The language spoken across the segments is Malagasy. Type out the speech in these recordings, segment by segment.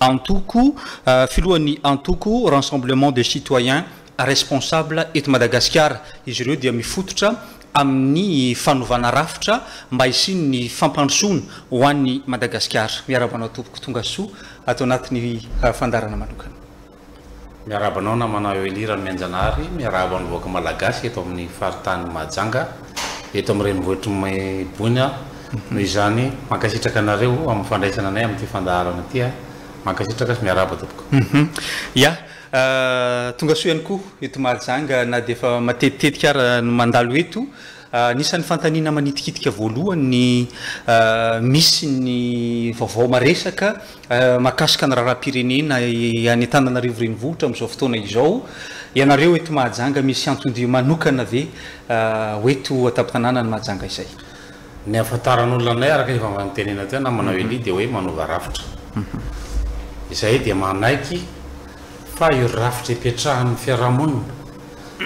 Antoko, filohan'ny antoko Ransemblement des Citoyens Responsables eto Madagasikara. Izy ireo dia mifototra amin'ny fanovana rafitra mba hisian'ny fampandrosoana ho an'i Madagasikara. Miarahaba anao tompoko, tongasoa ato anatin'ny fandaharana manokana. Miarahaba anao namana Welly Ramianjanahary, miarahaba ny vahoaka Malagasy eto amin'ny faritany Mahajanga, eto amin'ny renivohitr'i Boina aho, noho izany mankasitraka anareo amin'ny fandraisana anay amin'ity fandaharana ity aho, mankasitraka sy miarahaba tompoko. Ya, tongasoa ihany koa eto Mahajanga na dia efa matetitetika ara no mandalo eto. Anisan'ny fanontaniana manitikitika voalohany ny misy ny vaovao maresaka mahakasika ny raharaham-pirenena any Antananarivo Renivohitra amin'izao fotoana izao. Ianareo eto Mahajanga misy anton-dia manokana ve ho eto an-tampon-tanànan'i Mahajanga izay? Ny ahafantaran'olona anay araka ny efa notenenina teo na manao elia dia hoe manova rafitra. Izahay dia manaiky fa io rafitra ipetrahan'ny fiarahamonina,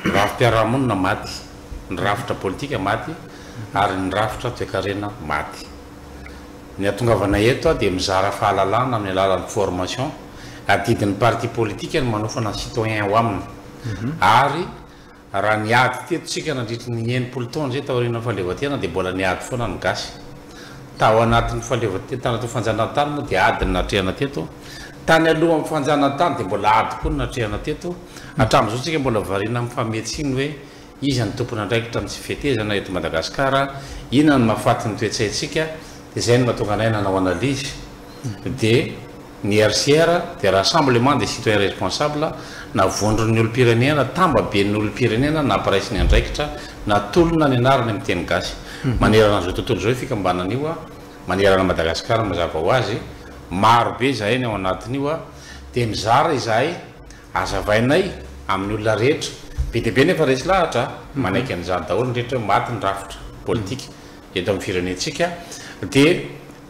rafi-piarahamonina maty. ny rafitra politika maty ary ny rafitra toekarena maty. Ny hatongavanay eto dia mizara fahalalana amin'ny alalan'ny formation, adidin'ny parti politika ny manofana ny citoyen ao aminy ary raha niady teto isika nandritry ny enimpolo taona izay taorian'ny fahaleovantena dia mbola niady foana ny gasy tao anatin'ny fahaleovantena, tao anatin'ny fanjanahantany moa dia ady no natrehana teto, tany alohan'ny fanjanahantany dia mbola ady koa no natrehana teto, hatramin'izao isika mbola variana amin'ny fahamihetsiny hoe. Iza no tompon'andraikitra amin'ny tsy fetezana eto Madagasikara? Inona no mahafaty ny toe-tsaintsika? Dia izay no mahatonga anay nanao analyse. Dia ny RCR dia Rassemblement des Citoyens Responsables na vondron'ny olom-pirenena, tambaben'ny olom-pirenena nampiray sy niandraikitra, natolona ny anarany amin'ny teny gasy. Manerana an'izao tontolo izao io fikambanana io, manerana an'i Madagasikara mazava ho azy. Maro be izahay ny ao anatin'io dia mizara izahay Azavainay amin'ny olona rehetra. Be dia be nefa resy lahatra a! Manaiky an'izany daholo ny rehetra hoe maty ny rafitra politika eto amin'ny firenentsika dia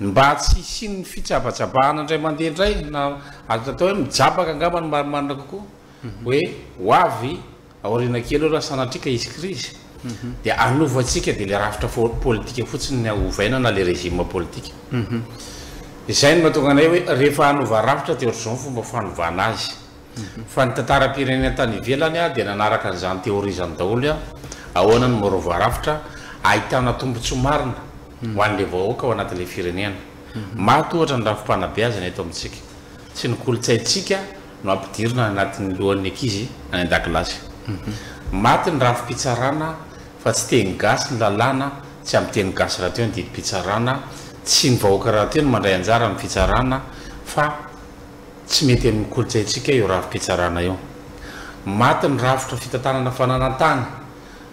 ny mba tsy hisian'ny fitsabatsabahana indray mandeha indray na azo atao hoe mijabaka angamba no marimarina kokoa hoe ho avy Aoriana kely eo raha sanatria ka hisy krizy dia hanova antsika dia ilay rafitra politika fotsiny ny ovaina na ilay régime politika. Izay no mahatonga anay hoe rehefa hanova rafitra dia ohatr'izao ny fomba fanovana azy. Fa ny tantaram-pirenena tany ivelany dia nanaraka an'izany théorie izany daholo hoe ahoana no maorova rafitra ahitana tombontsoa marina ho an'ilay vahoaka ao anatin'ilay firenena. Maty ohatra ny rafi-panabeazana eto amintsika. Tsy ny kolontsaintsika no ampidirina anatin'ny lohan'ny ankizy any an-dakilasy. Maty ny rafi-pitsarana fa tsy teny gasy ny lalàna, tsy ampy teny gasy rahateo ny didim-pitsarana, tsy ny vahoaka rahateo no mandray anjara amin'ny fitsarana fa tsy mety amin'ny kolontsaintsika io rafi-pitsarana io. Maty ny rafitra fitantanana fananantany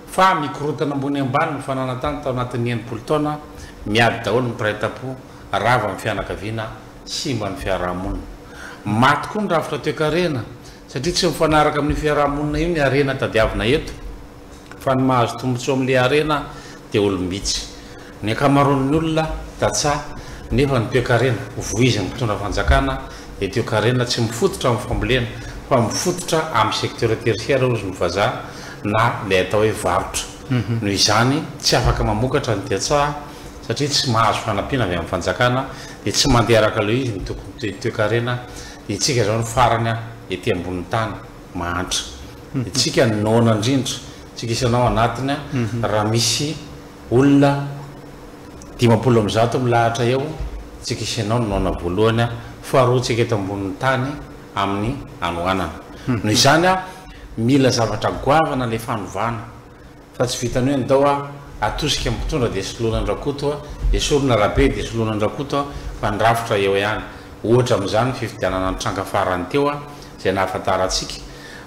fa mikorontana ambony ambany ny fananantany tao anatin'ny enimpolo taona, miady daholo ny mpiray tampo, rava ny fianakaviana, simba ny fiarahamonina. Maty koa ny rafitra toekarena satria tsy mifanaraka amin'io fiarahamonina io ny harena tadiavina eto fa ny mahazo tombotsoa amin'ilay harena dia olom-bitsy. Ny ankamaroan'ny olona tantsaha nefa ny toekarena voizin'ny mpitondra fanjakana dia toekarena tsy mifototra amin'ny fambolena fa mifototra amin'ny secteur tertiaire hozy ny vazaha na ilay atao hoe varotra. Noho izany tsy afaka mamokatra ny tantsaha satria tsy mahazo fanampiana avy amin'ny fanjakana Dia tsy mandeha araka ilay izy ny tokony toe toekarena Itsika izao no farany an ety ambonin'ny tany mahantra Itsika no noana indrindra Itsika isanao ao anatiny an Raha misy olona dimampolo amby zato milahatra eo Itsika isanao no noana voalohany an Faharoa Itsika eto ambonin'ny tany amin'ny hanoanana Noho izany an Mila zavatra goavana ilay fanovana Fa tsy vitan'ny hoe ndao a, atosika ny mpitondra dia soloina an-dRakoto a, esorina Rabe dia soloina an-dRakoto a, fa ny rafitra eo ihany. Ohatra amin'izany ny fifidianana nitranga farany teo a, izay nahafantarantsika,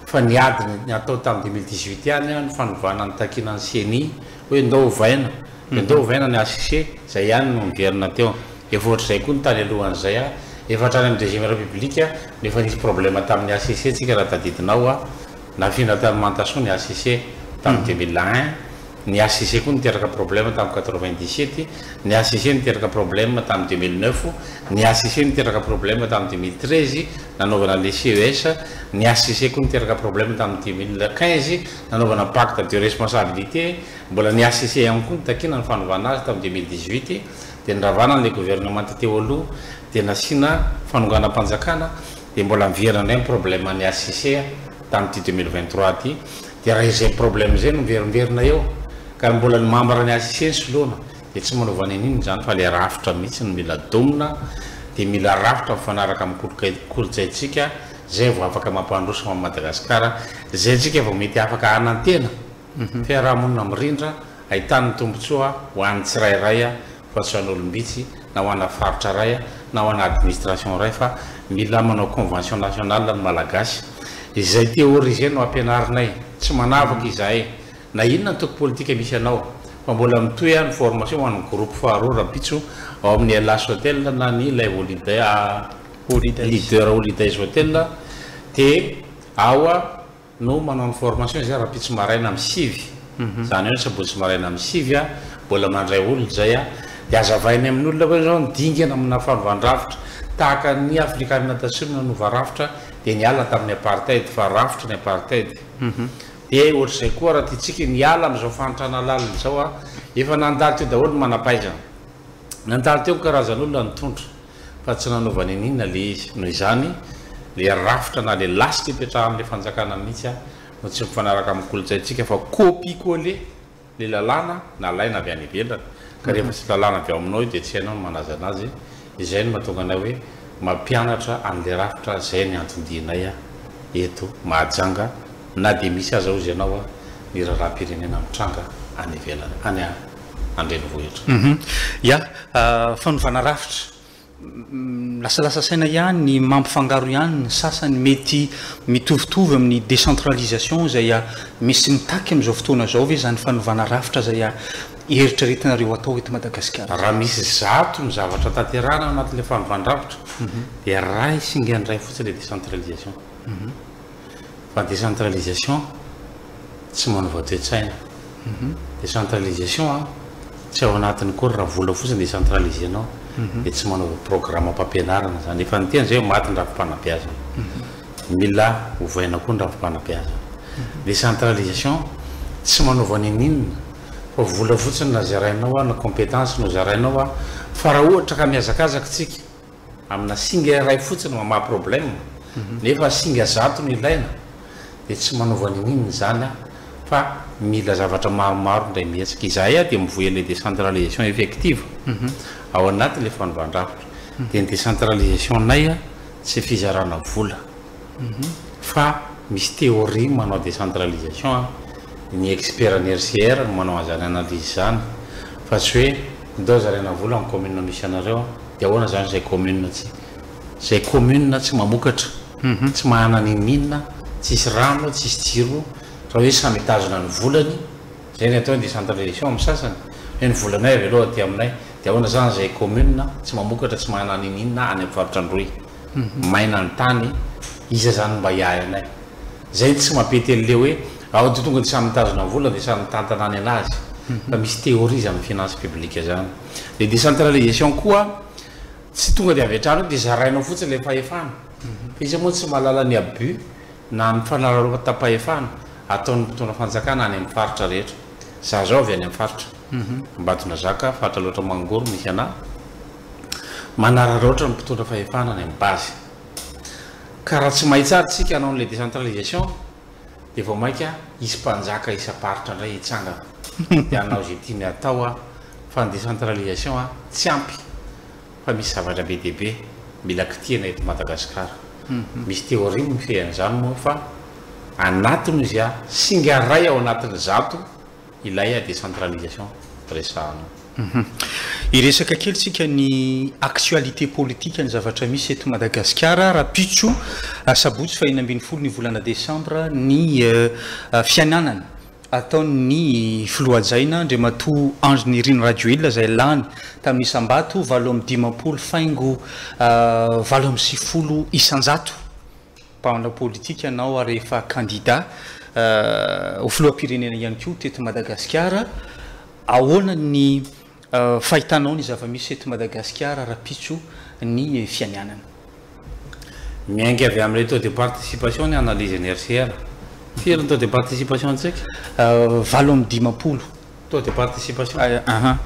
fa ny ady natao tamin'ny deux mille dix-huit ihany a, ny fanovana nitakiana ny ceni hoe ndao ovaina, dia ndao ovaina ny HCC, izay ihany no niverina teo. Efa ohatr'izay koa ny tany alohan'izay a, efa hatrany amin'ny deuxième république no efa nisy problème tamin'ny HCC tsika raha tadidinao a, Nafindra tany Mantasoa ny HCC tamin'ny deux mille un, ny HCC koa niteraka problème tamin'ny quatre-vingt-dix-sept, ny HCC niteraka problème tamin'ny deux mille neuf, ny HCC niteraka problème tamin'ny deux mille treize nanaovana an'ilay CES, ny HCC koa niteraka problème tamin'ny deux mille quinze nanaovana pacte de responsabilité, mbola ny HCC ihany koa nitakiana ny fanovana azy tamin'ny deux mille dix-huit dia niravana an'ilay gouvernement teo aloha dia nasiana fanonganam-panjakana, Dia mbola miverina indray ny problème an'i HCC tamin'ity deux mille vingt trois ity, dia raha izay problème izay no miverimberina eo ka mbola ny membre an'i HCC no soloana dia tsy manova n'inon'inona izany fa ilay rafitra mihitsy no mila domina dia mila rafitra mifanaraka amin'ny kolontsaintsika izay vao afaka mampandroso an'i Madagasikara, izay isika vao mety afaka hanantena. fiarahamonina mirindra, ahitan'ny tombontsoa ho an'ny tsirairay fa tsy ho an'olom-bitsy, na ho ana faritra iray, na ho ana administration iray fa mila manao convention nationale ny Malagasy. Izay théorie izay no ampianarinay. Tsy manavaka izahay na inona antoko politika misy anao fa mbola mitohy ny formation ho an'ny groupe faharoa rampitso ao amin'ny Hellas Hotel na ny ilay Holiday Leader Holidays Hotel dia ao no manao ny formation izay rahampitso maraina amin'ny sivy izany hoe ny sabotsy maraina amin'ny sivy a mbola mandray olona izay a dia azavainy amin'ny olona hoe izao ny dingana amina fanovandravitra tahaka ny afrikanina tatsimo nanova rafitra dia niala tamin'ny apartheid fa rafitra ny apartheid dia ohatr'izay koa raha tiantsika ny hiala amin'izao fahantrana lalina izao a efa nandalo teo daholo ny manampahaizana nandalo teo ny karazan'olona nitondra fa tsy nanaovany an'inona le izy. Noho izany, le rafitra na le lasitra ipetrahan'le fanjakana mihitsy no tsy mifanaraka amin'ny kolontsaintsika fa copier-coller le lalàna nalaina avy any ivelany ka rehefa tsy lalàna avy ao aminao io dia tsy hainao ny manaja anazy, izay no mahatonga anay hoe mampianatra an'le rafitra zay ny anton-dianay eto Mahajanga na dia misy aza ozy ianao ny raharaham-pirenena mitranga any ivelany any. an-drenivohitra. Ya, fanovana rafitra. Milasalasa saina ihany ny mampifangaro ihany ny sasany mety mitovitovy amin'ny décentralisation izay misy mitaky amin'izao fotoana izao ve izany fanovana rafitra izay eritreretinareo atao eto Madagasikara? Raha misy zato ny zavatra tanterahana ao anatin'ilay fanovana rafitra dia iray singa indray fotsiny ilay décentralisation. fa décentralisation tsy manova toe-tsaina. Décentralisation an, tsy ao anatiny akory raha vola fotsiny décentraliser-nao dia tsy manaova programam-pampianarana izany. Efa niteny izay aho maty ny rafi-panabeazana. Mila ovaina koa ny rafi-panabeazana. Décentralisation tsy manaova ninininona fa vola fotsiny na zarainao an, na compétence no zarainao an, fa raha ohatra ka mihazakazaka isika, Amina singa iray fotsiny mamaha problème nefa singa zato no ilaina dia tsy manova ninin izany aho fa mila zavatra maromaro indray mihetsika. Izahay aho dia mivoy an'ilay décentralisation effective ao anatin'ilay fanovan-drafitra dia ny décentralisation-nay aho tsy fizarana vola. fa misy théorie manao décentralisation an, ny expert ny RCR no manao an'izany analyse izany fa tsy hoe ndao zaraina vola amin'ny commune misy anareo an, dia ahoana izany izay commune tsy, izay commune tsy mamokatra, tsy manana ny mine, tsisy rano, tsisy jiro, raha hoe samy hitazona ny volany, izay no atao hoe décentralisation amin'ny sasany, hoe ny volanay avy aloha aty aminay, dia ahoana izany izay commune tsy mamokatra, tsy manana ny mine any amin'ny faritra Androy. maina ny tany, iza zany mba hiahy anay? Zay tsy mampetely le hoe ao de tonga de samy mitazona vola de samy mitantana any anazy fa misy théorie zany finance publique zany. Le décentralisation koa tsy tonga de avy hatrany hoe de zarainao fotsiny le fahefana fa iza moa tsy mahalala ny abus na ny fanararaotam-pahefana ataon'ny mpitondra fanjakana any amin'ny faritra rehetra. Za zao avy any amin'ny faritra Ambatondrazaka, faritra Alaotra Mangoro misy anah, Manararaotra ny mpitondra fahefana any amin'ny base. Ka raha tsy mahay tsara isika hanao an'ilay décentralisation dia vao mainka hisy mpanjaka isam-paritra indray hitsangana dia hanao izay tiany hatao fa ny décentralisation tsy ampy fa misy zavatra be dia be mila kitihana eto Madagasikara. Misy théorie mifehy an'izany moa fa anatiny izy singa iray ao anatin'ny zato Ilay a décentralisation resahanao. Hum. Hiresaka kely tsika ny actualité politique, ny zavatra misy eto Madagasikara, rahampitso asabotsy faha enina ambin'ny folo ny volana desambra ny fiananana ataon'ny filoha hajaina Andriamatoa Andry Nirina Rajoelina izay lany tamin'ny isam-bato valo amby dimampolo faingo valo amby sivifolo isan-jato. Mpanao politika ianao ary efa kandida ho filoham-pirenena ihany koa teto Madagasikara. Ahoana ny fahitanao ny zava-misy eto Madagasikara rahampitso ny fianianana? Miainga avy amin'ilay taux de participation ny analyse-n'i RCR. Firy ny taux de participation antsika? Valo amby dimampolo Taux de participation. Ay ahaa.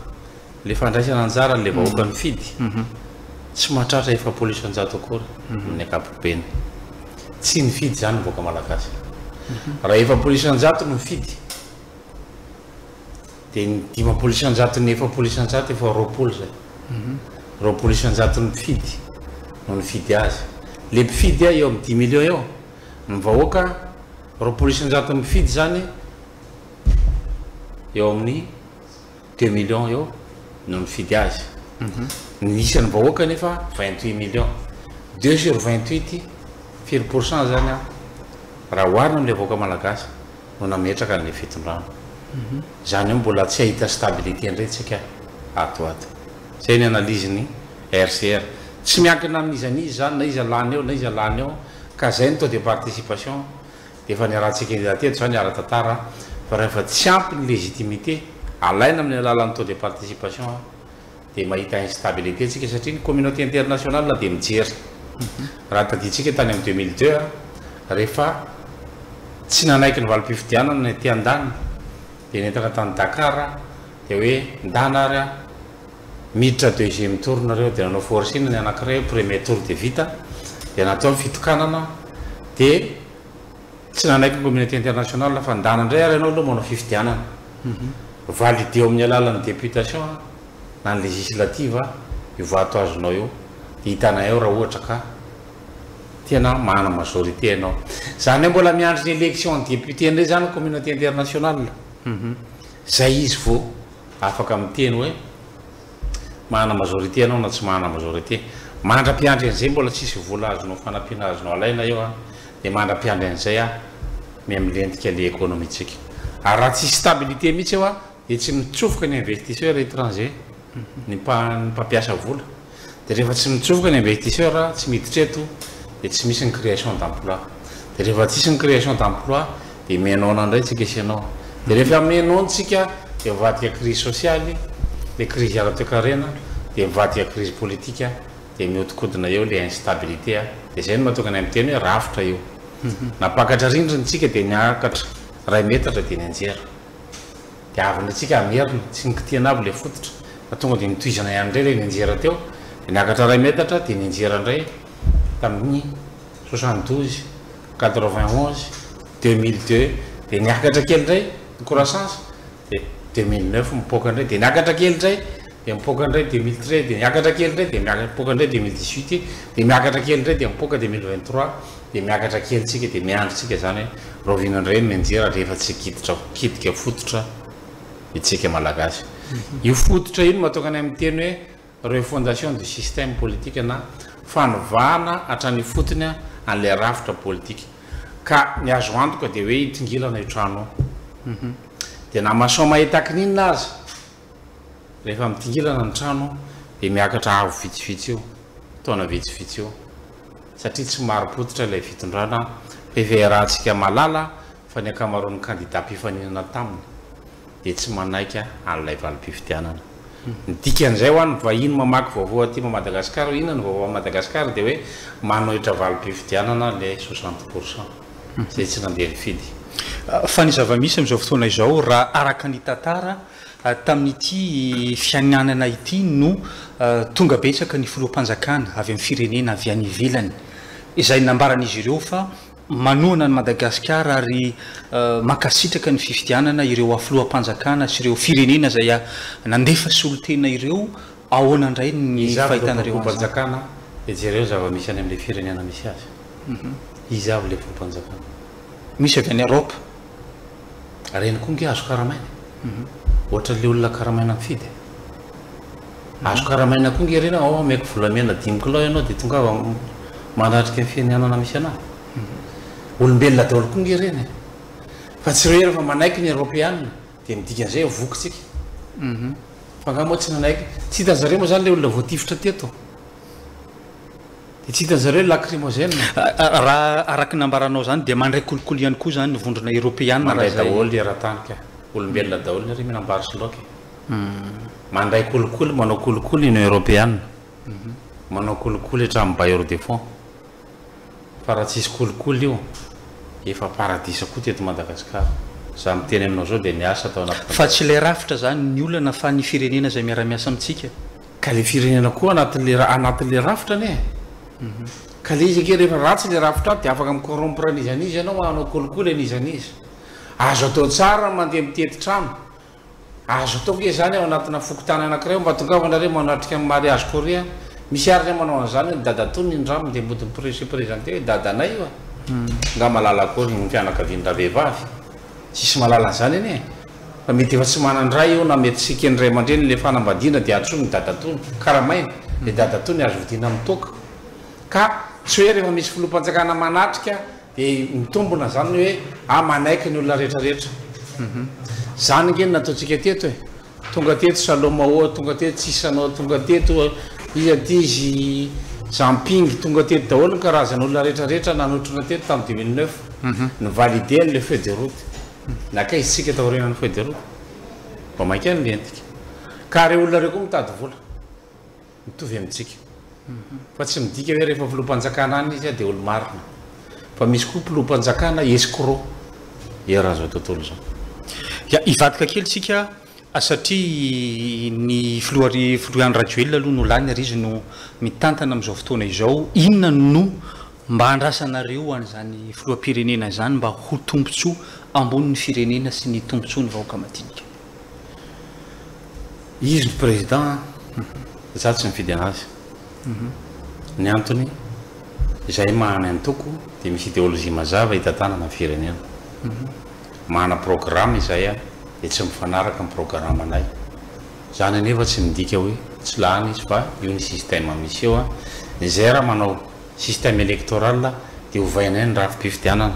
Le fandraisana anjara an'le vahoaka mifidy tsy mahatratra efapolo isan-jato akory amin'ny ankapobeny. Tsy nifidy izany ny vahoaka malagasy. Raha efapolo isan-jato no mifidy dia ny dimampolo isan-jaton'ny efapolo isan-jato efa roapolo izay. Roapolo isan-jaton'ny mpifidy no nifidy azy. Le mpifidy eo amin'ny dix millions eo. Ny vahoaka roapolo isan-jaton'ny mpifidy izany. eo amin'ny deux millions eo no nifidy azy. Mhm. Ny isan'ny vahoaka anefa vingt huit millions. Deux sur vingt huit firy pourcent izany an? Raha oharina amin'ilay vahoaka malagasy no nametraka an'ilay fitondrana. Mhm. Izany hoe mbola tsy hahita stabilité indray tsika ato ho ato. Izay ny analyse-n'i RCR. Tsy miankina amin'iza n'iza izany, na iza lany eo, na iza lany eo, ka izay ny taux de participation. Efa niarahantsika indray teto izany ara-tantara fa rehefa tsy ampy ny légitimité alaina amin'ny alalan'ny taux de participation dia mahita instabilité tsika satria ny communauté internationale dia mijery. Raha tadidintsika tany amin'ny deux mille deux rehefa tsy nanaiky ny valim-pifidianana ny aty andaniny dia nentana tany Dakar dia hoe ndana ary miditra deuxième tour nareo dia nanao forcing ny anakiray hoe premier tour dia vita dia natao ny fitokanana dia tsy nanaiky ny communauté internationale fa ndana indray ary ianao aloha manao fifidianana mhm. valideo amin'ny alalan'ny députation na ny législative io vato azonao io dia hitanay ao raha ohatra ka tena mana majorité ianao zany hoe mbola miandry ny élection ny député indray zany communauté internationale mhm. zay izy vao Afaka miteny hoe mahana majorité ianao na tsy mahana majorité. Mandra-piandry an'izay mbola tsisy vola azonao fanampiana azonao alaina eo an, dia mandra-piandry an'izay an, miha-milentika le économie-tsika. Ary raha tsisy stabilité mihitsy eo an, dia tsy mitsofoka ny investisseurs étrangers, ny mpampiasa vola. Dia rehefa tsy mitsofoka ny investisseur, tsy miditra eto, dia tsy misy ny création d'emploi. Dia rehefa tsisy ny création d'emploi, dia mihainaona indray tsika sy ianao. Dia rehefa mihainaontsika, dia mivadika crise sociale, dia crise ara-toekarena, dia mivadika crise politique, dia mihodinkodina eo ilay instabilité, dia izay no mahatonga anay miteny hoe rafitra io. Nampakatra rindrina isika dia niakatra iray metatra dia nianjera. Dia avy indray tsika hamerina, tsy nikitiana avy ilay fototra fa tonga dia nitohizana ihany indray ilay nianjera teo, dia niakatra iray metatra dia nianjera indray tamin'ny soixante douze, quatre vingt onze, deux mille deux, dia niakatra kely indray ny croissance, dia deux mille neuf mipoaka indray, dia niakatra kely indray, dia mipoaka indray deux mille treize, dia niakatra kely indray, dia mipoaka indray deux mille dix huit, dia miakatra kely indray, dia mipoaka deux mille vingt trois. Dia miakatra kely tsika dia miandry tsika izany hoe rahoviana indray ny mianjera rehefa tsy giditra gidika fototra itsika malagasy. Io fototra io no mahatonga anay miteny hoe refondation du système politique na fanovana hatrany ifotony an'ilay rafitra politika. Ka ny azo antoka dia hoe hitongilana io trano io. Dia na masoamahetak'ninona aza. Rehefa midingirana ny trano aho dia miakatra avo vitsivitsy io, taona vitsivitsy io, satria tsy marim-pototra ilay fitondrana, heverahantsika malala fa ny ankamaroan'ny kandida mpifaninana taminy dia tsy manaiky an'ilay valim-pifidianana. Ny dikan'izay ho an'ny vahiny mamaky vaovao aty Madagasikara hoe inona ny vaovao any Madagasikara dia hoe manohitra valim-pifidianana ilay soixante pour cent. izay tsy nandeha nifidy. Fa ny zava-misy amin'izao fotoana izao, raha araka ny tantara, tamin'ity fiainanana ity no tonga betsaka ny filoham-panjakana avy amin'ny firenena avy any ivelany, izay nambaran'izy ireo fa manohana an'i Madagasikara ary mankasitraka ny fifidianana ireo filoham-panjakana sy ireo firenena izay nandefa solontena ireo Ahoana indray ny fahitanareo an'izany? Iza avy ilay voampanjakana dia jereo ny zava-misy any amin'ilay firenena misy azy. Iza avy ilay voampanjakana? Misy avy any Eropa. Ireny koa ange azo karamaina e! Ohatran'ilay olona karamaina mifidy e! Azo karamaina koa ange ireny hoe aoa omeko volamena dimy kilao ianao dia tongava manatrika ny fianianana misy anao. Olombelona daholo koa ange ireny e! Fa tsy ireo ihany fa manaiky ny Eropeana Dia midika an'izay eo vokintsika. Fa angaha moa tsy nanaiky, tsy hitan'ny zareo moa zany ilay olona voatifitra teto? Dia tsy hitan'ny zareo lacrymogène? Raha araka ny nambaranao zany dia mandray kolikoly ihany koa zany ny vondrona eropeana raha izay? Mandray daholo ry eratany ka, olombelona daholo nareo mianambary sy loaka e. Mandray kolikoly, manao kolikoly ny union eropeana, manao kolikoly hatramin'ny bailleur de fonds. Fa raha tsisy kolikoly io efa paradisa koa teto Madagascar. Za miteny aminao zao dia miasa tao anaty fanjakana. Fa tsy ilay rafitra zany ny olana fa ny firenena izay miara miasa amintsika. Ka le firenena koa anatinle anatinle rafitra anie ka le izy ake rehefa ratsy le rafitra de afaka mi corrompre an'iza an'iza ianao hanao kolikoly an'iza an'iza. Azo atao tsara ny mandeha mitety trano. Azo atao nge zany ao anatina fokontany anakiray mba tongava nareo manatrika ny mariage korea misy ary zay manao anzany hoe ny dadatoa ny ndramo de mody mi se presenter hoe dadanay io a! Nga malala akory ny fianakaviany raha vehivavy? Tsisy malala anzany anie fa mety efa tsy manan dray eo na mety tsy eken'ny ray aman-dreniny le fanambadiana de antsoiny ny dadatoa ny karamaina le dadatoa ny azo vidiana amin'ny toaka ka tsy hoe rehefa misy filoham-panjakana manatrika Dia mitombona izany ny hoe ah manaiky ny olona rehetra rehetra. Izany ange no nataontsika teto e. Tonga teto Saloma oa, tonga teto Sisan oa, tonga teto iza ity izy Zamping, tonga teto daholo ny karazana olona rehetra rehetra nanotrona teto tamin'ny dimy mille neuf. Ny valider ilay feuille de route. Nakaiza isika taorianan'ny feuille de route? Vao mainka no nentika. Ka ireo olona ireo koa mitady vola. mitovy amintsika fa tsy midika hoe rehefa filoham-panjakana any izy dia olo-marina fa misy koa mpiloham-panjakana escroc eran'izao tontolo izao dia hivadika kely isika satria ny filoha filoha Andry Rajoelina aloha no lany ary izy no mitantana amin'izao fotoana izao inona no mba andrasanareo an'izany filoham-pirenena izany mba ho tombontsoa ambonin'ny firenena sy ny tombontsoan'ny vahoaka madinika. Izy no président an! Za tsy mifidy anazy. Ny antony, izahay maha ny antoko dia misy idéologie mazava hitantanana ny firenena. Mahana programme izahay an! dia tsy mifanaraka ny programme nay. Izany anefa tsy midika hoe tsy lany izy fa io ny système misy eo an! Izay raha manao. système électoral dia ovay anay ny rafi-pifidianana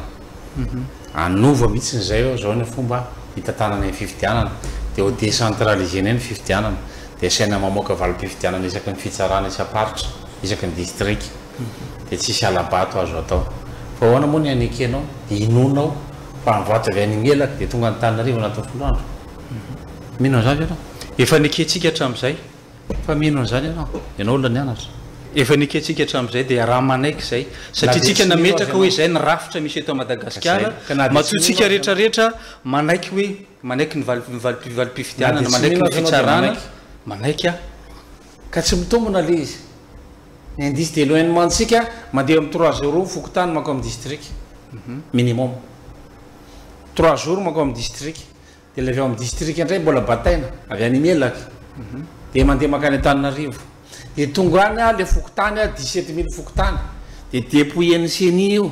anova mihitsy ny zay zao ny fomba hitantanana ny fifidianana dia ho décentralisé anay ny fifidianana dia asaina mamoaka valim-pifidianana isaky ny fitsarana isam-paritra isaky ny distrika dia tsisy hala-bato azo atao fa ahoana moa ny anekenao dia inoanao fa ny vato avy any imelaka dia tonga any Antananarivo anatin'ny folo andro mino an'izany ve ianao? Efa nekentsika hatramin'izay. Fa mino an'izany ianao? Ianao olona nianatra. Efa ny ekentsika hatramin'izay dia raha manaiky izay, satria tsika nametraka hoe izay ny rafitra misy eto Madagasikara, matoa tsika rehetra rehetra manaiky hoe manaiky ny valim-pifidianana, manaiky ny fitsarana, manaiky aho. Ka tsy mitombona ilay izy. Ny indice d'éloignement ntsika mandeha amin'ny trois jours fokontany mankao amin'ny district. Minimum. Trois jours mankao amin'ny district. Dia ilay avy ao amin'ny distrika indray mbola bataina, avy any Melaky, dia mandeha mankany Antananarivo. Dia tonga any aho, ilay fokontany, dix sept mille fokontany, dia dépouille-n'ny ceni io.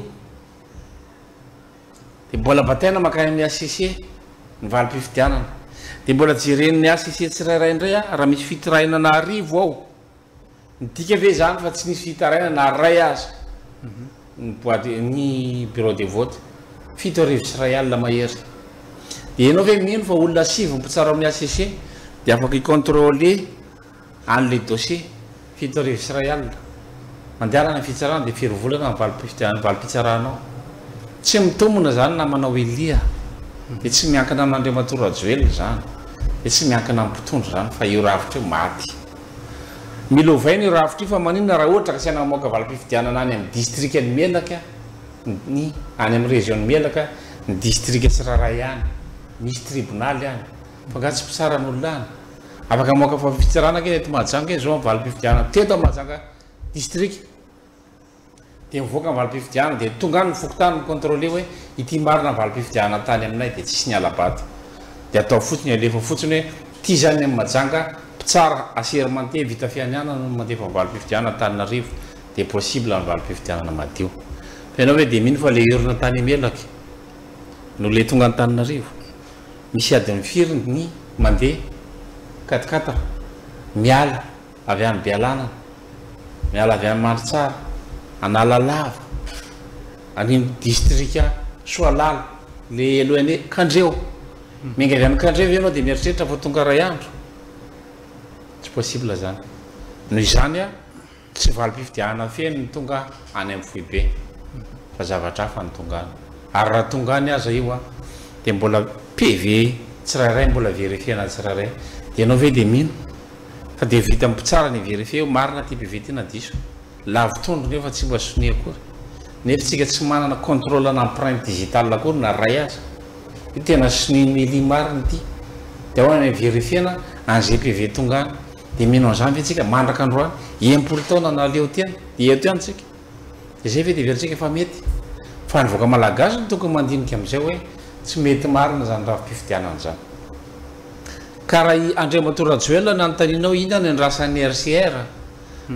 Dia mbola bataina mankany amin'ny HCC, ny valim-pifidianana. Dia mbola jeren'ny HCC tsirairay indray aho, raha misy fitirahina an'arivo ao. Midika ve izany fa tsy nisy fitarainana na iray aza ny boite ny bureau de vote? Fito arivo sy iray alina mahery. Dia ianao ve mino fa olona sivy ny mpitsara ao amin'ny HCC dia afaka hi-controller an'ilay dossier? Fito arivo sy iray alina. Mandehanana ny fitsarana dia firy volana ny valim-pifidianana ny valim-pitsaranao? Tsy mitombina izany namanao Elia a! Dia tsy miankina amin'Andriamatoa Rajoelina izany. Dia tsy miankina amin'ny mpitondra izany fa io rafitra io maty. Mila ovaina io rafitra io fa maninona raha ohatra ka asiana mamoaka valim-pifidianana any amin'ny distrikan'i Melaka ny any amin'ny région-n'i Melaka ny distrika tsirairay any misy tribonaly any fa angaha tsy mpitsara ny olona any? Afaka mamoaka fahafitsarana ange ny eto Mahajanga e, zao ny valim-pifidianana teto Mahajanga distrika Dia mivoaka ny valim-pifidianana dia tonga any ny fokontany mi-controler hoe ity marina ny valim-pifidianana tany aminay dia tsisy niala-bato. Dia atao fotsiny alefa fotsiny hoe ity zany ny Majanga mpitsara assermenté vita fianianana no mandefa valim-pifidianana Antananarivo dia possible ny valim-pifidianana madio. Fa ianao ve dia mino fa ilay urne tany Melaky no ilay tonga Antananarivo? Misy adin'ny firy ny mandeha quatre quatre miala. Avy any Bealanana, miala avy any Mandritsara, Analalava, any amin'ny distrika Soalala, ilay helohany hoe Kandreho. Miainga avy any Kandreho ve ianao dia mieritreritra fa tonga iray andro? Tsy possible izany. Noho izany, tsy valim-pifidianana feno ny tonga any amin'ny foibe, fa zavatra hafa no tonga any. Ary raha tonga any aza io, dia mbola PV tsirairay mbola verifiena tsirairay. Dia ianao ve dia mino? Fa dia vita ny mpitsara ny vérifier eo, marina ity PV ity na diso. Lavo trondro nge fa tsy mba sonia akory. Nefa tsika tsy manana contrôle ana empreinte digitale akory na ray aza. Io tena sonia mailie marina ity. Dia ahoana ny verifiena anze PV tonga any. Dia mino anzany ve tsika mandraka androany. Enimpolo taona na leo tena. Dia eto ihany tsika. Dia zay ve dia heveritsika fa mety. Fa ny vahoaka malagasy no tokony mandinika amzay hoe tsy mety marina zany rafi-pifidianana zany. Ka raha i Andriamatoa Rajoelina no anontaniana hoe inona no iandrasan'ny RCR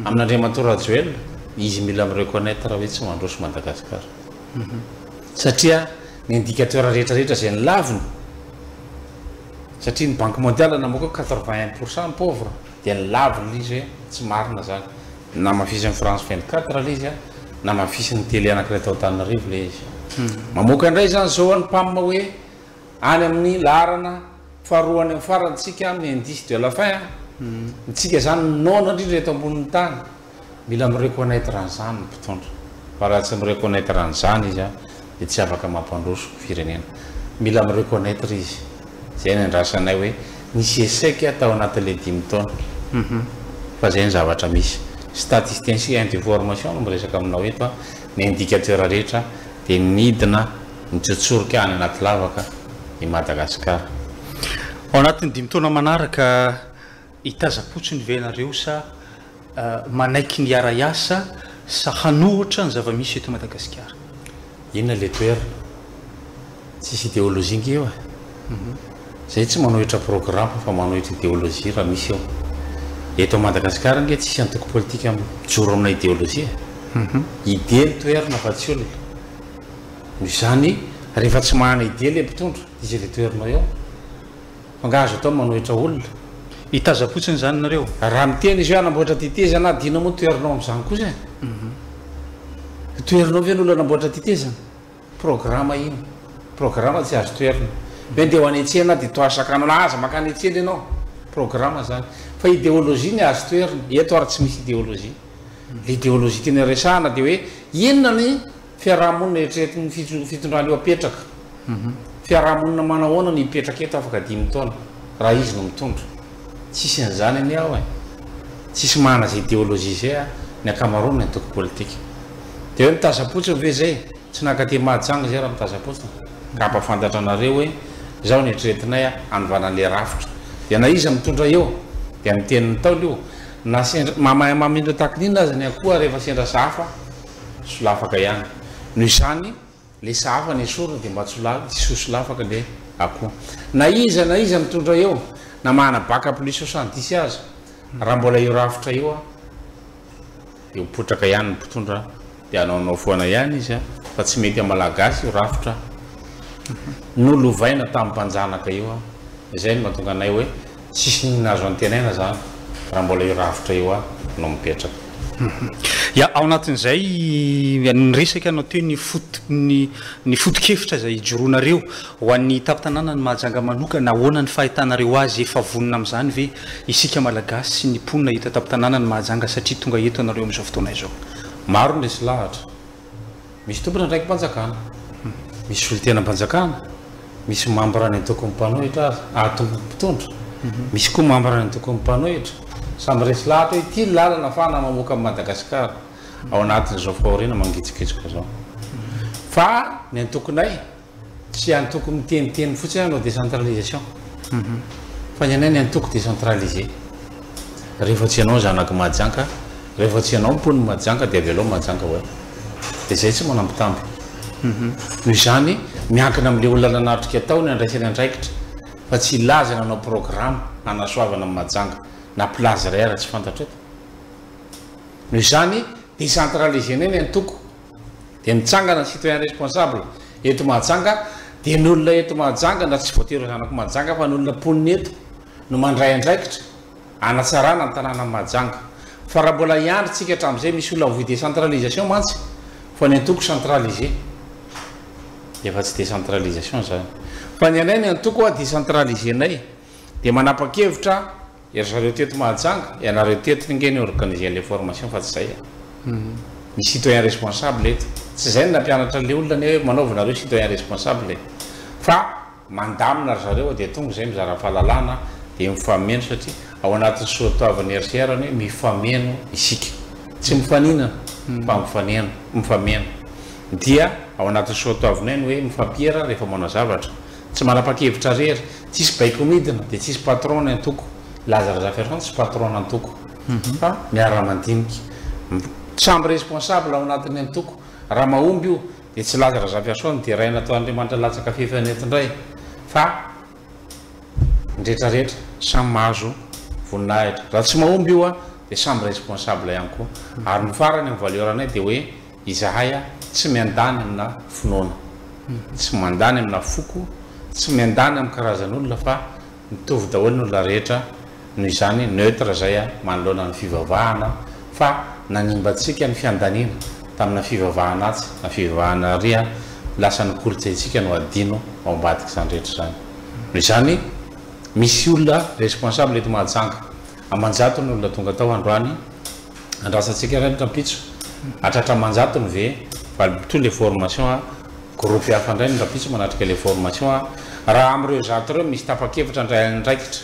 amin'Andriamatoa Rajoelina, izy mila mi-reconnaitre hoe tsy mandroso Madagascar. Satria ny indicateur rehetra rehetra izay nilaviny, satria ny Banque Mondiale namoaka hoe quatre-vingt un pour cent ny pauvre, dia nilaviny ilay izy hoe tsy marina izany. Namafisin'ny France vingt-quatre ilay izy, namafisin'ny télé anankiray tao Antananarivo ilay izy. Mamoaka indray izany izao ny PAM hoe. Any amin'ny laharana faharoa any amin'ny farany tsika amin'ny indice de la faim a! Ny tsika izany noana indrindra eto ambonin'ny tany. Mila mi-reconnaitre an'izany ny mpitondra. Fa raha tsy mi-reconnaitre an'izany izy an, dia tsy afaka mampandroso firenena. Mila mi-reconnaitre izy. Izay no iandrasana anay hoe nisy echec tao anatin'ilay dimy taona. Fa izay no zavatra misy. Statisticien sy information no miresaka aminao eto an. Ny indicateur rehetra dia nidina. Mitsotsorika any anaty lavaka i Madagasikara. Ao anatin'ny dimy taona manaraka, hitazam-potsiny ve ianareo sa manaiky ny hiara-hiasa sa hanohitra ny zava-misy eto Madagasikara? Inona ilay toerana? Tsisy ideolojia ange eo e! Izay tsy manohitra programa fa manohitra ideolojia raha misy eo. Eto Madagasikara ange tsisy antoko politika mijoro amina ideolojia e! Idée no toerana fa tsy olona. Noho izany, rehefa tsy mahana idée ilay mpitondra, dia izay ilay toerinao eo. Fa angaha azo atao ny manohitra olona? Hitazam-potsiny izany nareo. Raha miteny izy hoe hanamboatra tetezana aho, dia inona moa ny toerinao amin'izany kosa e? Ho toherinao ve ny olona hanamboatra tetezana? Programa iny. Programa tsy azo toherina. Hoe ndeha ho any an-tsena aho dia toa sakanana, aza mankany an-tsena ianao. Programa izany. Fa idéologie ny azo toherina. Eto ary tsy misy idéologie. Ilay idéologie tena resahana dia hoe inona ny. Fiarahamonina eritreretin' ny fitondrana eo apetraka. Fiarahamonina manahoana no hipetraka eto afaka dimy taona raha izy no mitondra? Tsisy an' izany anie aho e! Tsisy manana izay ideolojia izay a! Ny ankamaroan' ny antoko politika. Dia hoe mitazapotsiny ve izay? Tsy nankaty Mahajanga izay raha mitazapotsiny. Ka hampafantatra anareo hoe izao no eritreretinay a! Hanovana an' ilay rafitra. Dia na iza mitondra eo dia miteny ny Ntaolo io. Na sendra, mahamay amin' ireo takin'inona aza ny Ankoho ary efa sendra sahafa solafaka ihany. Noho izany, le sahafa nesorina dia mba tsy ho tsy ho solafaka le akoho. Na iza na iza mitondra eo, na mahana bac à plus soixante dix aza, raha mbola io rafitra io an, dia ho potraka ihany ny mpitondra dia hanaonao foana ihany izy an, fa tsy mety amin'ny Malagasy io rafitra nolovaina tamin'ny mpanjanaka io an, izay no mahatonga anay hoe, Tsisy inona azo antenaina zany raha mbola io rafitra io any no mipetraka. Ya, ao anatin'izay ny resaka no atao hoe ny foto-ny ny foto-kevitra izay ijoroanareo ho an'ny tampon-tanànan'i Mahajanga manokana, ahoana ny fahitanareo azy, efa vonona amin'izany ve isika Malagasy sy ny mponina eto an-tampon-tanànan'i Mahajanga satria tonga eto ianareo amin'izao fotoana izao? Maro ny resy lahatra. Misy tompon' andraiki-panjakana, misy solontenam-panjakana, misy mambra ny antokon' ny mpanohitra aza, ary tompon' ny mpitondra, misy koa mambra ny antokon' ny mpanohitra. Samy resy lahatra hoe ity ny lalana ahafahana mamoaka an'i Madagasikara ao anatin' izao fahoriana mangitsokitsoka izao. Fa ny antokonay. Tsy antoko miteniteny fotsiny hanao décentralisation fa ny anay ny antoko décentralisé. Rehefa tsy ianao zanak'i Mahajanga, rehefa tsy ianao mponin'i Mahajanga dia avelao Mahajanga ho eo. Dia izay tsy manambitamby. Noho izany, miankina amin'ilay olona nanatrika tao ny handraisany andraikitra fa tsy hilaza ny hanao programa hanasoavana an'i Mahajanga na place iray ara-tsy fantatra eto. Noho izany, décentralisé-nay ny antoko Dia mitsangana ny citoyen responsable eto Mahajanga dia ny olona eto Mahajanga na tsy voatery ho zanako Mahajanga fa ny olona mponina eto no mandray andraikitra hanatsarana ny tanànan'i Mahajanga fa raha mbola hiandry tsika hatramin'izay misy olona voa décentralisation mantsy fa ny antoko centralisé dia efa tsy décentralisation izany fa ny anay ny antoko décentralisé-nay dia manapa-kevitra Ry zareo teto Mahajanga, ianareo teto ny nge no organiser an'le formation fa tsy zay a! Misy citoyen responsable eto. Tsy zay no nampianatra an'le olona anie hoe manaova nareo citoyen responsable e! Fa mandamina ry zareo dia tonga izay mizara fahalalana dia mifameno satria ao anatin'ny soatoavin'ny RCR ny hoe mifameno isika. Tsy mifaninana fa mifaneno, mifameno. Dia ao anatin'ny soatoavinay ny hoe mifampiera rehefa manao zavatra. Tsy manapa-kevitra rery. Tsisy baiko midina dia tsisy patron ny antoko. Laza Razafiarison tsy patron antoko fa miara-mandinika. Samy responsable ao anatin'ny antoko. Raha mahomby io dia tsy Laza Razafiarison no deraina atao Andriamanitra latsaka fefy any eto indray fa ny rehetra rehetra samy mahazo voninahitra. Raha tsy mahomby io dia samy responsable ihany koa. Ary ny farany amin'ny valeur-nay dia hoe. Izahay a, tsy miandany amina finoana, tsy mandany amina foko, tsy miandany amin'ny karazan'olona fa mitovy daholo ny olona rehetra, noho izany neutre izay a, manoloana ny fivavahana fa nanimba antsika ny fiandaniana tamina fivavahana atsy na fivavahana ary a, lasa ny kolontsaintsika no adino ao ambadik'izany rehetra izany. Noho izany misy olona responsable eto Mahajanga aman-jatony olona tonga tao androany, Andrasantsika iray ny rampitso. Hatratra aman-jatony ve? Valiboto ilay formation a! Groupe hafa indray ny rampitso manatrika ilay formation a! Raha amin'ireo zato ireo misy tapa-kevitra handray andraikitra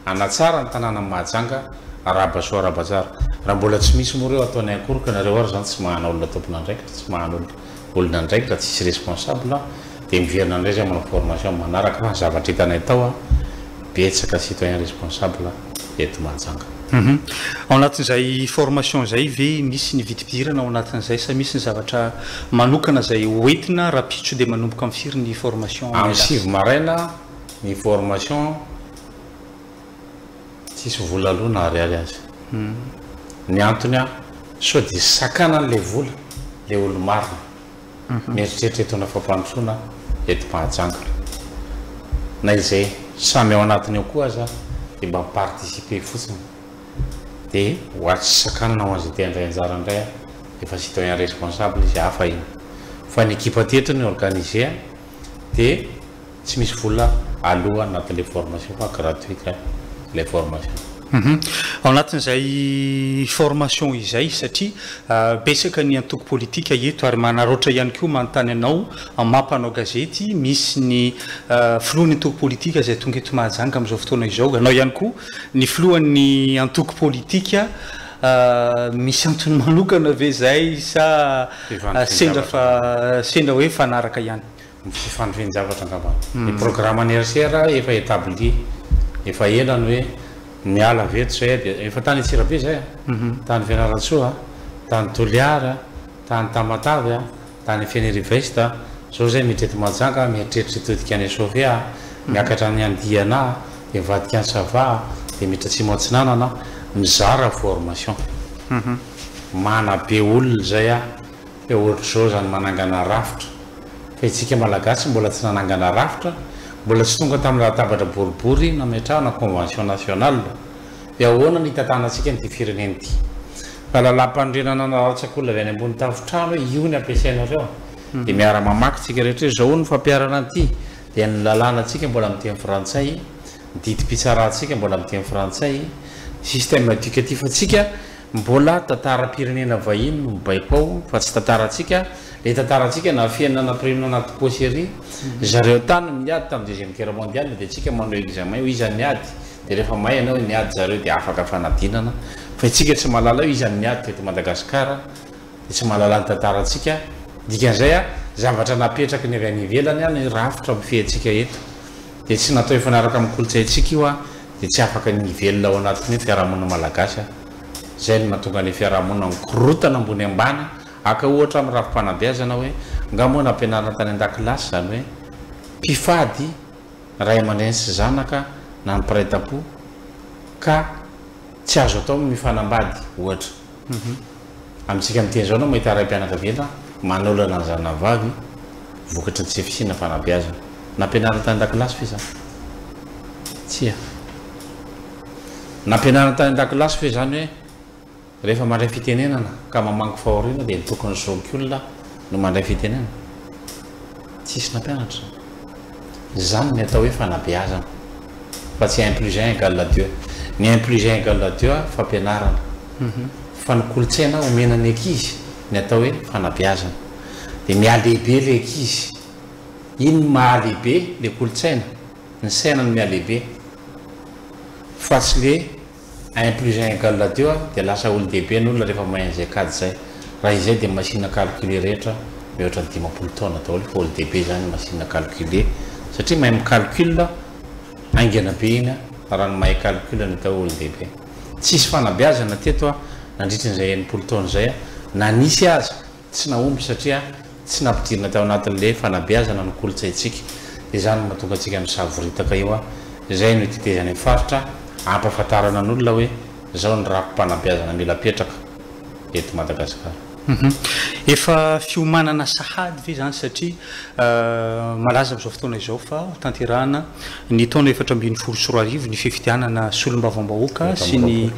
hanatsara ny tanànan'i Mahajanga, arahaba soa arahaba tsara. Raha mbola tsy misy moa ireo ataonay akory ka nareo ary izany tsy mahana olona tompon'andraikitra, tsy mahana olona. olona andraikitra tsisy responsable dia miverina indray zay manao formation manaraka fa zavatra hitanay tao a betsaka citoyen responsable eto Mahajanga. Hum ao anatin'izay formation zay ve misy ny vidipidirana ao anatin'izay sa misy ny zavatra manokana zay ho entina rapitso dia manomboka am firy ny formation Am Malagasy? sivy maraina ny formation. Tsisy vola aloha na ariary aza. Ny antony an, sao dia sakanany ilay vola ilay olo-marina. Mieritreritra hitondra fampandrosoana eto Mahajanga. Na izay samy ao anatiny ao koa aza dia mba mi-participer fotsiny. Dia ho atsy tsy sakanana ho an'izay te handray anjara indray an, efa citoyen responsable izy, hafa iny. Fa ny ekipa teto ny organiser dia. Tsy misy vola aloa anatin'ilay formation fa gratuite ilay formation. Hum ao anatin'izay formation izay satria betsaka ny antoko politika eto ary manaraotra ihany koa manontany anao maha mpanao gazety misy ny filohan'ny antoko politika izay tonga eto Mahajanga amin'izao fotoana izao ianao ihany koa ny filohan'ny antoko politika misy antony manokana ve izay sa sendra fa sendra hoe fanaraka ihany. ny fifandrian-javatra angamba. Ny programme anniversaire efa établi efa ela ny hoe miala avy eto zay dia efa tany Antsirabe zay an, tany Fianarantsoa an, tany Toliary an, tany Tamatave an, tany Fenerive-Est an, zao zay miditra eto Mahajanga an, mieritreritra hitodika any Sofia an, miakatra any Andiana an, dia mivadika any Sava an, dia miditra atsimo atsinanana an, mizara formation, manabe olona zay an. Dia ohatr'izao izany manangana rafitra. Fa itsika Malagasy mbola tsy nanangana rafitra, mbola tsy tonga tamin'ny latabatra boribory nametrahana convention nationale. Dia ahoana ny hitantanantsika an'ity firenena ity? Raha lalàmpanorenana anarantsakolona avy any ambony tafontrano hoe io ny ampiasainareo, dia miara-mamaky tsika rehetra hoe izao hono ny fampiharana an'ity, dia ny lalànantsika mbola amin'ny teny frantsay, ny didim-pitsarantsika mbola amin'ny teny frantsay, ny système éducatif antsika Mbola tantaram-pirenena vahiny no mibaiko ao fa tsy tantarantsika, le tantarantsika nafenina nampirimina anaty pochery, zareo tany miady tam deuxième guerre mondiale de tsika manao examen hoe iza niady de refa mahay enao hoe niady zareo de afaka fanadinana, fa itsika tsy mahalala hoe iza niady teto Madagascar de tsy mahalala ny tantarantsika, dikan'izay a zavatra napetraky ny avy any ivelany a ny rafitra mifehy antsika eto de tsy natao hifanaraka am kolontsaintsika io a. dia tsy afaka ny hivelona ao anatin'ny hoe fiarahamonina malagasy aho. Izay no mahatonga ilay fiarahamonina mikorontana ambony ambany, haka ohatra amin'ny rafi-panabeazana hoe nga moa nampianarina tany an-dakilasy izany hoe mpifady ray aman-dreny sy zanaka na ny mpiray tampo ka tsy azo atao ny mifanambady ohatra. Amintsika miteny izao no mahita raim-pianakaviana manolana ny zanany vavy vokatry ny tsy fisiana fanabeazana. Nampianarina tany an-dakilasy ve izany? Tsia. Nampianarina tany an-dakilasy ve izany hoe rehefa mandray fitenenana ka mamangy fahoriana dia ny toky ny zokiolona no mandray fitenenana? tsisy nampianatra. Izany ny atao hoe fanabeazana fa tsy un plus un egal à deux. Ny un plus un egal à deux fampianarana fa ny kolontsaina omena ny ankizy ny atao hoe fanabeazana dia mihalehibe ilay ankizy. Iny no mahalehibe ilay kolontsaina, ny saina no mihalehibe fa tsy ilay. Un plus un égale adio a, dia lasa olon-dehibe ny olona rehefa mahay an'izay kajy izay. Raha izay dia ny machine à calculer rehetra mihoatra ny dimampolo taona daholo fa olon-dehibe izany ny machine à calculer satria mahay mi-calcul haingana be iny a, raha ny mahay calcul no atao hoe olon-dehibe. Tsisy fanabeazana teto a, nandritry ny izay enimpolo taona izay a, na nisy aza. Tsy nahomby satria tsy nampidirina tao anatin'ilay fanabeazana ny kolontsaintsika. Izany no mahatonga antsika misavoritaka eo. Izay no itetezany ny faritra hampahafantarana ny olona hoe izao ny rafi-panabeazana mila apetraka eto Madagasikara. Efa fiomanana sahady ve izany satria malaza amin'izao fotoana izao fa hotanterahina ny taona efatra ambin'ny folo sy roa arivo ny fifidianana solombavambahoaka sy ny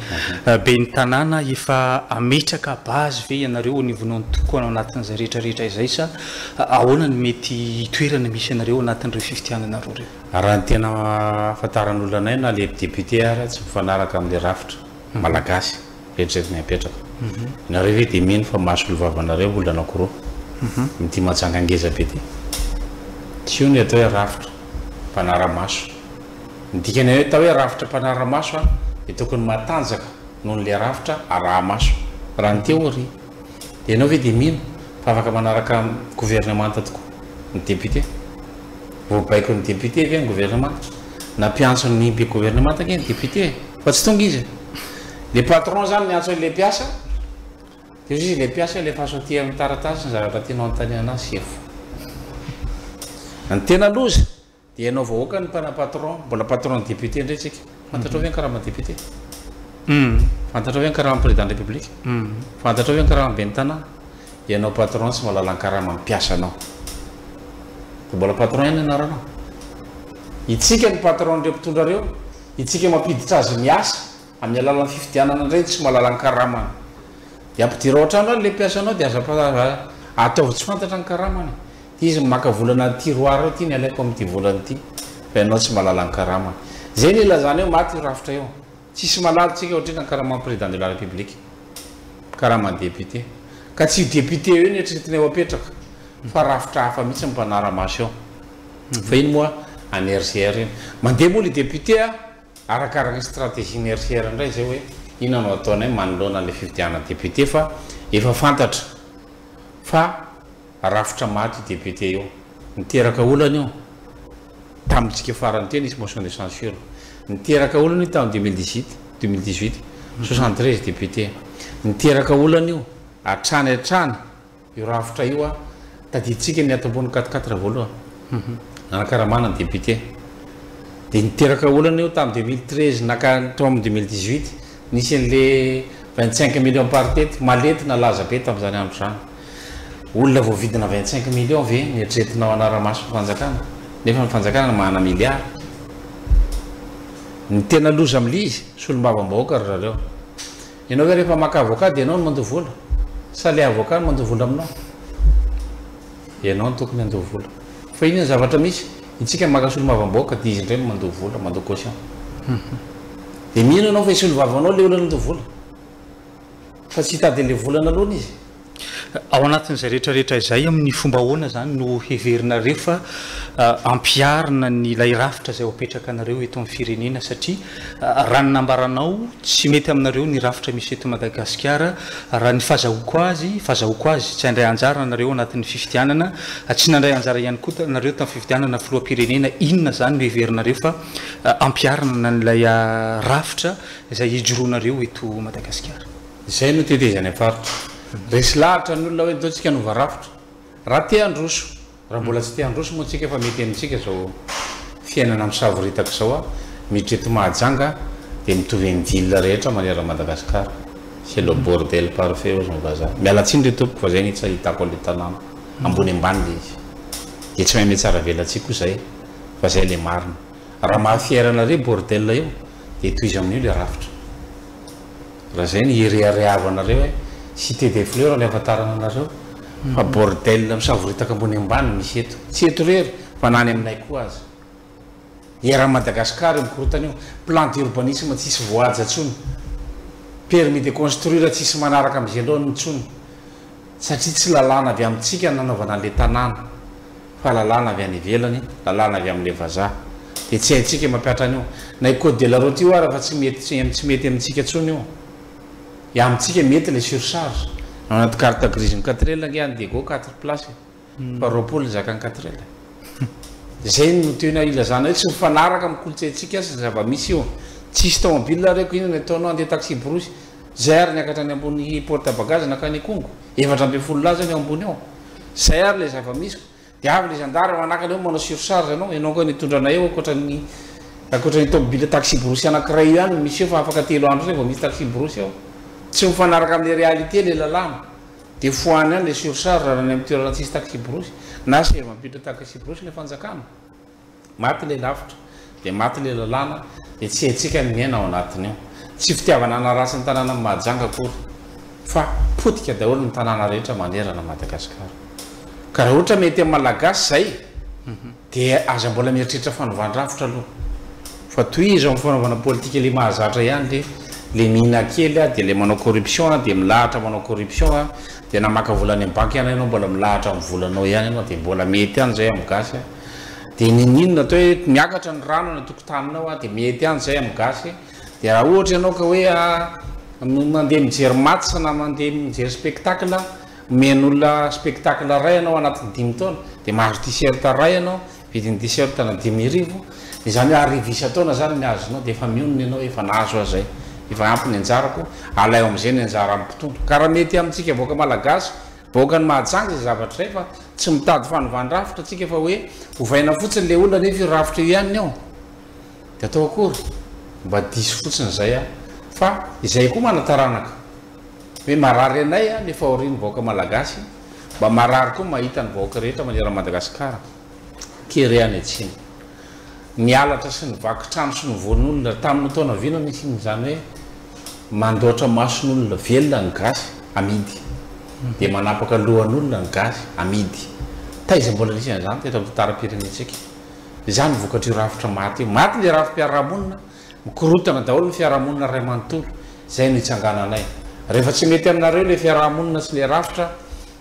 ben'ny tanàna, efa hametraka base ve ianareo anivonao ny tokony ao anatin'izay rehetra rehetra izay sa ahoana no mety hitoerana misy anareo anatin'ireo fifidianana roa ireo? Raha ny tena ahafantaran'olona anay na le député ary tsy mifanaraka amin'ny rafitra malagasy. Eritreritra ny hapetraka. Nareo ve dia mino fa mahasoa ny vavanareo olona anakiroa? Mitia majanga ngeza be ty. Tsy io no atao hoe rafitra mpanara-maso. Ny dikany hoe atao hoe rafitra mpanara-maso an, dia tokony matanjaka noho ny le rafitra araha-maso. Raha ny théorie. Dia ianao ve dia mino fa afaka manaraka governemanta tokoa ny député? Voabaikon' ny député ve ny governemanta? Nampiantson' ny be governemanta ange ny député e. Fa tsy tonga izy. Le patron zany miantso an'ilay mpiasa, de hoy izy ilay mpiasa alefaso aty amin'ny taratasy ny zavatra tianao anontaniana ahy sefo. Ny tena loza dia ianao vahoaka ny mpana patron, mbola patron ny député indray tsika. Fantatrao ve ny karaman'ny député? Fantatrao ve ny karaman'ny président de la république? Fantatrao ve ny karaman'ny ben'ny tanàna? Ianao patron tsy mahalala ny karaman'ny mpiasanao. Fa mbola patron ihany ny anaranao. Itsika ny patron-n'ireo mpitondra ireo Isika mampiditra azy miasa amin'ny alalan'ny fifidianana indray ny tsy malala-karamany. Dia ampidirao an-trano any ilay mpiasanao dia aza ataovy tsy fantatra ny karamany. Ity izy no maka vola anaty tiroir ao, ity ny alaiko amin'ity volana ity. Fa ianao tsy malala-karamany. Izay no ilazana eo, maty io rafitra io. Tsisy malala antsika ohatr'inona ny karaman'ny Président de la République, karaman'ny député. Ka tsy io député io no eritreretinay ho apetraka fa rafitra hafa mihitsy no mpanara-maso eo. Fa iny moa any RGR iny. Mandeha moa le député a! Arakaraka ny stratégie-ny RGR ndray zay hoe inona no ataonay manoloana le fifidianana député fa efa fantatra fa rafitra maty io député io. Niteraka olana io tamin'ny tsika farany teo nisy motion de censure. Niteraka olana io tamin'ny deux mille dix huit, deux mille dix huit, soixante treize députés. Niteraka olana io hatrany hatrany. Io rafitra io an! Tadidintsika ny ato ambony quatre quatre raha voalohany. Hum hum. Nanakaramana ny député. Dia niteraka olana io tamin'ny deux mille treize naka teo amin'ny deux mille dix huit. Nisy an'le vingt cinq millions par tety. Malety nalaza be tamin'izany andro izany. Olona voavidina vingt cinq millions ve no eritreretinao hanara-maso ny fanjakana? Nefa ny fanjakana no manana milliard. Ny tena loza amin'ilay izy, solombavambahoaka ry zareo. Ianao ve rehefa maka avocat dia ianao no mandoa vola? Sa ilay avocat no mandoa vola aminao? Ianao no tokony handoa vola. Fa inona no zavatra misy? Itsika maka solomavam-bahoaka dia izy indray no mandoa vola, mandoa caution. Dia mino ianao fa i solovavanao ilay olona nandoa vola? Fa tsy hitady an'ilay vola naloany izy. Ao anatin'izay rehetra rehetra izay, amin'ny fomba ahoana izany no heverinareo fa ampiharina ny ilay rafitra izay ho apetrakanareo eto amin'ny firenena? Satria raha ny nambaranao, tsy mety aminareo ny rafitra misy eto Madagasikara. Raha ny fazahoako azy, fazahoako azy, tsy handray anjara nareo ao anatin'ny fifidianana, tsy nandray anjara ihany koa nareo tamin'ny fifidianana filoham-pirenena, inona izany no heverinareo fa ampiharina an'ilay rafitra izay hijoroanareo eto Madagasikara? Izay no tetezanay faritra. Resy lahatra ny olona hoe ndao tsika hanova rafitra. Raha te handroso. Raha mbola tsy te handroso moa tsika fa mety amintsika izao fiainana misavoritaka izao a. Miditra eto Mahajanga dia mitovy amin'ny ville rehetra manerana an'i Madagasikara. C'est le bordel parfait hozy ny vazaha. Miala tsiny ry tompoko fa izay ny tsy ahitako an'ilay tanàna. Ambony ambany ilay izy. Dia tsy mahay mihatsara velatsihy koa izahay fa izay ilay marina. Raha maha fier anareo io bordel io dia tohizo amin'io ilay rafitra. Raha zay no hireharehavanareo eh. Cité des fleurs no ahafantarana anareo fa bordel misavoritaka ambony ambany no misy eto. Tsy eto irery fa na any aminay koa aza. Eran'i Madagascar io mikorontana io. Plan d'urbanisme tsisy voahaja intsony. Permis de construire tsisy manaraka amin'izay loany intsony. Satria tsy lalàna avy amintsika ny nanaovana an'ilay tanàna. fa lalàna avy any ivelany, lalàna avy amin'ilay vazaha. Dia tsy haintsika mampihatra an'io. Na io code de la route io ara fa tsy mety tsy tsy mety amintsika intsony io. Dia amintsika mety ilay surcharge. Ao anaty carte grise ny quatre ela ange any Diego quatre place e. Fa roapolo ny zakan'ny quatre ela e. Dia zay no tiana hilazana hoe tsy mifanaraka amin'ny kolontsaintsika sy ny zava-misy io. Tsisy tômôbila reko inona ny ataonao andeha taxi brousse. Zay ary niakatra any ambony porte à bagages nankany Ikongo. Efatra ambin'ny folo lahy zao ny ao ambony ao. Zay ary ilay zava-misy ko. Dia avy ilay zandary manakana eo manao surcharge anao, ianao koa nitondra anay eo ankoatran'ny ankoatran'ny tômôbila taxi-borosy anankiray io ihany no misy eo fa afaka telo andro izay vao misy taxi-borosy ao. Tsy mifanaraka amin'ilay réalité ilay lalàna. Dia fohano ihany ilay surcharge raha any amin'ny toerana tsisy taxi-borosy na sehavampiotra taxi-borosy ilay fanjakana. Maty ilay lavitra, dia maty ilay lalàna, dia tsy haintsika ny miaina ao anatin'io. Tsy fitiavana hanaratsy ny tanànan'i Mahajanga akory, fa potika daholo ny tanàna rehetra manerana an'i Madagasikara. Ka raha ohatra mety amin'ny Malagasy izay, dia aza mbola mieritreritra fanovan-drafitra aloha. Fa tohizo amin'ny fanaovana politika ilay mahazatra ihany, dia ilay mihinan kely dia ilay manao corruption, dia milahatra manao corruption, dia na maka vola any amin'ny banky ihany ianao mbola milahatra amin'ny volanao ihany ianao, dia mbola mety ihany izay amin'ny gasy. Dia niniana atao hoe miakatra ny rano any an-tokotaninao a, dia mety ihany izay amin'ny gasy. Dia raha ohatra ianao ka hoe mandeha mijery match na mandeha mijery spectacle, omen'olona spectacle iray ianao anatin'ny dimy taona, dia mahazo t-shirt iray ianao, vidin'ny t-shirt na dimy arivo, dia izany hoe arivo isan-taona izany ny azonao, dia efa mionona ianao hoe efa nahazo aho izay, efa ampy ny anjarako, alaivo amin'izay ny anjaran'ny mpitondra. Ka raha mety amintsika vahoaka malagasy, Vahoaka ny mahajanga izay zavatra izay fa tsy mitady fanovana rafitra tsika fa hoe ovaina fotsiny le olona nefa io rafitra io ihany ny ao de atao akory mba diso fotsiny izay a fa izay koa manataranaka hoe marary anay a le fahorian'ny vahoaka malagasy mba marary koa mahita ny vahoaka rehetra maneran'i Madagasikara kere any atsimo Ny halatra sy ny vaky trano sy ny voan' olona tamin' ny taona vy no nisian' izany hoe mandaotra mason' olona velona ny gasy, amidy, dia manapaka lohan' olona ny gasy, amidy. Taiza mbola nisy an' izany teto amin' ny tantaram-pirenentsika? Izany no vokatr' io rafitra maty io. Maty ilay rafi-piarahamonina, mikorontana daholo ny fiarahamonina iray manontolo. Izay no itsangananay. Rehefa tsy mety aminareo ilay fiarahamonina sy ilay rafitra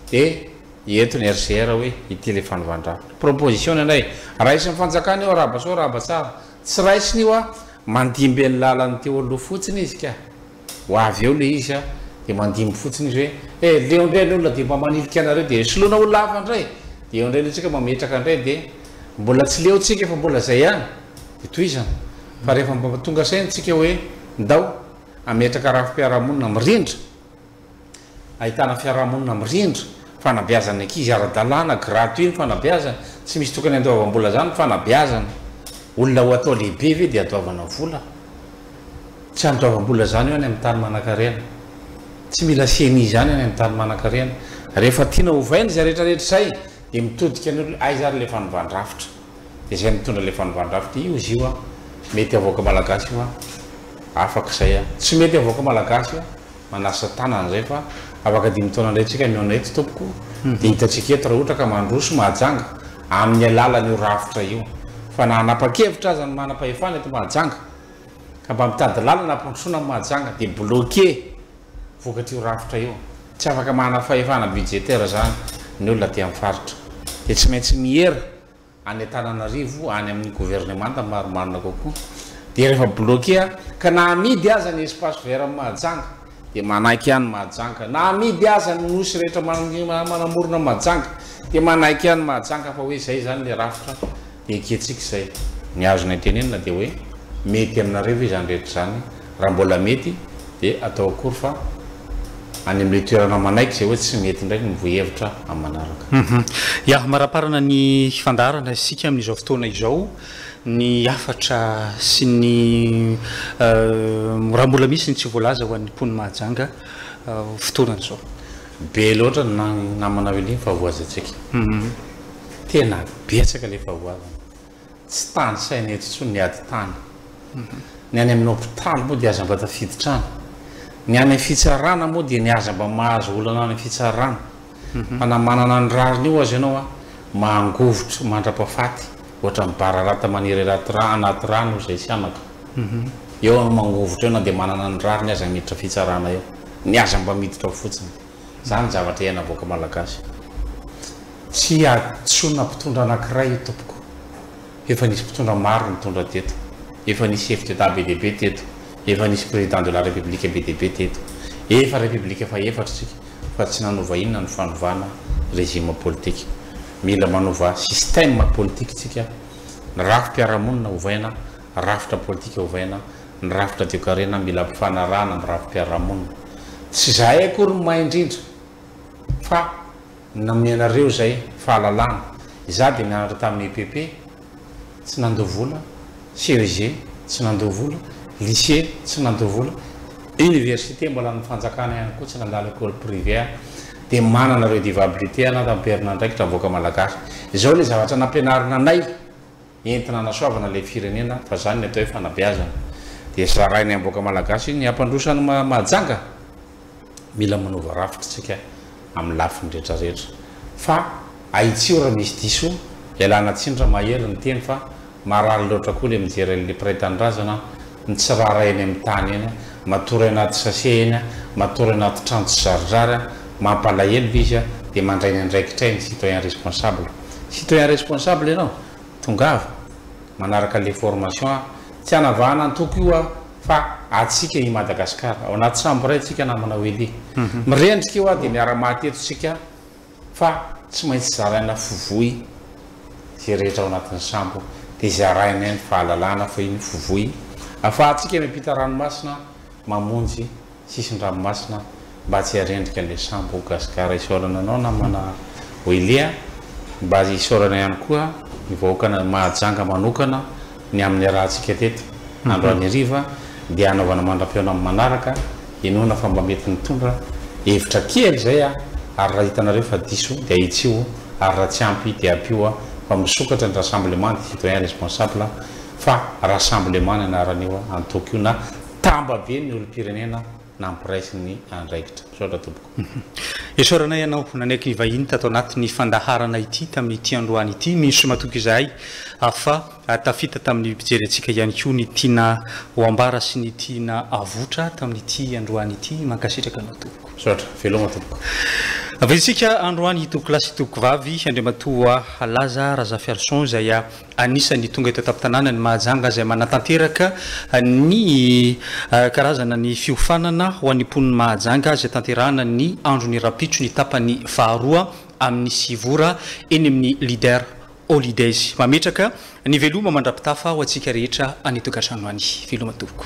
dia. Eto ny RCR hoe ity ilay fanovàn-drafitra. Proposition indray. Raisin'ny fanjakana io arahaba soa arahaba tsara. Tsy raisiny io an, mandimby an'i lalan'ny teo aloha fotsiny izy ka. Ho avy eo ilay izy an, dia mandimby fotsiny izy hoe eh leo indray ny olona dia mba manilika anareo dia soloina ho lava indray. Dia eo indray ilay tsika mametraka indray dia mbola tsy leo tsika fa mbola izay ihany. Dia tohizana. Fa rehefa mba tonga saina tsika hoe ndao hametraka rafi-piarahamonina mirindra. Ahitana fiarahamonina mirindra, fanabeazan'ny ankizy ara-dalàna, gratuit ny fanabeazana, tsy misy tokony handoavam-bola zany ny fanabeazana, olona ho atao lehibe ve dia adoavana vola? Tsy andoavam-bola zany eo any amin'ny tany manankarena, tsy mila ceni zany any amin'ny tany manankarena, rehefa tiana ovaina izay rehetra rehetra izay dia mitodika ny olona aiza ary ilay fanovàn-drafitra? Dia izay mitondra ilay fanovàn-drafitra io izy io an! Mety havoaka malagasy io an! Afaka izay an! Tsy mety havoaka malagasy io an! manasa tanana zay fa afaka dimy taona indray tsika mihaona eto tompoko dia hitantsika eto raha ohatra ka mandroso Mahajanga amin'ny alalan'io rafitra io fa na hanapa-kevitra aza ny manam-pahefana eto Mahajanga ka mba mitady lalana hampandrosoana an'i Mahajanga dia bloquer vokatr'io rafitra io tsy afaka manana fahefana budgétaire izany ny olona aty amin'ny faritra dia tsy maintsy miera any Antananarivo any amin'ny governemanta marimarina kokoa dia rehefa bloqué a ka na amidy aza ny espace vert am Mahajanga dia manaiky ihany Mahajanga na amidy aza ny nosy rehetra manamorona an Mahajanga dia manaiky ihany Mahajanga fa hoe zay zany le rafitra dia ekentsika zay ny azony antenenina dia hoe mety aminareo ve izany rehetra izany Raha mbola mety dia atao akory fa any amin'ilay toerana manaiky izay hoe tsy mety indray ny mivoy hevitra amin'ny manaraka. Ya, maraparana ny fandaharana isika amin'izao fotoana izao, ny hafatra sy ny raha mbola misy ny tsy voalaza ho an'ny mponin'i Mahajanga fotoana izao. Be loatra ny namana Willy ny fahavoazantsika. Tena betsaka ilay fahavoazana. Tsy tanisaina eto intsony ny ady tany. Ny any amin'ny hopitaly moa dia aza mba tafiditra any. Ny any amin'ny fitsarana moa dia ny aza mba mahazo olana any amin'ny fitsarana. Fa na manana ny rariny eo aza ianao an, mangovitra mandrapafaty, ohatran'ny bararata maniry anaty rano, anaty rano hoy izay sihanaka. Eo ianao mangovitra eo na dia manana ny rariny aza miditra fitsarana eo. Ny aza mba miditra ao fotsiny. Zany zavatra iaina vahoaka malagasy. Tsy hadisoana mpitondra anakiray io tompoko. Efa nisy mpitondra maro nitondra teto. Efa nisy chef d'etat be dia be teto. Efa nisy président de la république be dia be teto. Efa république faha efatra isika fa tsy nanova inona ny fanovana régime politique. Mila manova système politique tsika. Ny rafi-piarahamonina ovaina Rafitra politika ovaina, ny rafitra toekarena mila ampifanarahana amin'ny rafi-piarahamonina. Tsy izahay akory no mahay indrindra fa nomenareo izay fahalalana. Izaho dia nianatra tamin'ny EPP, tsy nandoa vola, CEG, tsy nandoa vola, lycée, tsy nandoa vola, université mbola an'ny fanjakana ihany koa, tsy nandalo école privée aho, dia manana redevabilité an'Antanperon'Andraikitra, vahoaka malagasy. Izao ilay zavatra nampianarina anay. entina hanasoavana ilay firenena fa izany ny atao hoe fanabeazana dia zarainy amin'ny vahoaka malagasy iny ny hampandroso an'i Mahajanga mila manova rafitra isika amin'ny lafiny rehetra rehetra fa ahitsio raha misy diso ialana tsiny raha mahery ny teny fa marary loatra koa ilay mijery an'ilay mpiray tanindrazana mitsirara eny amin'ny tany eny a, matory anaty sachet eny a, matory anaty trano tsy zaridrary a, mampalahelo ve izy a, dia mandray ny andraikitray ny citoyen responsable. Citoyen responsable ianao? Tongava, manaraka an'ilay formation a, tsy hanavahana antoko io aho fa antsika i Madagascar, ao anaty sambo iray tsika namana Welly. Mirendrika io a, dia miara-maty eto tsika, Fa tsy maintsy zaraina fovoy izay rehetra ao anatin'ny sambo dia izay arahinay ny fahalalana fa iny fovoy afahantsika miampita ranomasina mamonjy sisin-dranomasina mba tsy harendrika an'ilay sambo ho gasigara isaorana anao namana Willy a mba isaorana ihany koa ny vahoakan'i Mahajanga manokana Ny amin'ny iarahantsika teto andro anheriva dia hanaovana mandram-peo amin'ny manaraka, inoana fa mba mety nitondra hevitra kely izay aho ary raha hitanareo fa diso dia ahitsio ary raha tsy ampy dia ampio aho fa misokatra ny rassemblement de citoyens responsables fa rassemblement ny anaran'io antoko io na tambabe ny olom-pirenena nampiraisiny ny andraikitra. Misaotra tompoko. Isaoranay anao nanaiky nivahiny tato anatin'ny fandaharana ity tamin'ity androany ity. Mino sy matoky izahay fa tafita tamin'ny mpijery antsika ihany koa ny tiana ho ambara sy ny tiana avotra tamin'ity androany ity. Mankasitraka anao tompoko. Misaotra. Veloma tompoko. Vizitsika androany Tompokolahy sy Tompoko vavy Andriamatoa Laza Razafiarison izay Anisan'ny tonga eto an-tampon-tanàna ny Mahajanga izay manatanteraka ny karazana ny fiofanana ho an'ny mponin'i Mahajanga izay tanterahana ny andron'ny rahampitso ny tapany faharoa amin'ny sivy ora eny amin'ny Leader Holidays. Mametraka ny veloma mandrapitafa ho antsika rehetra any an-tokantrano any. Veloma tompoko.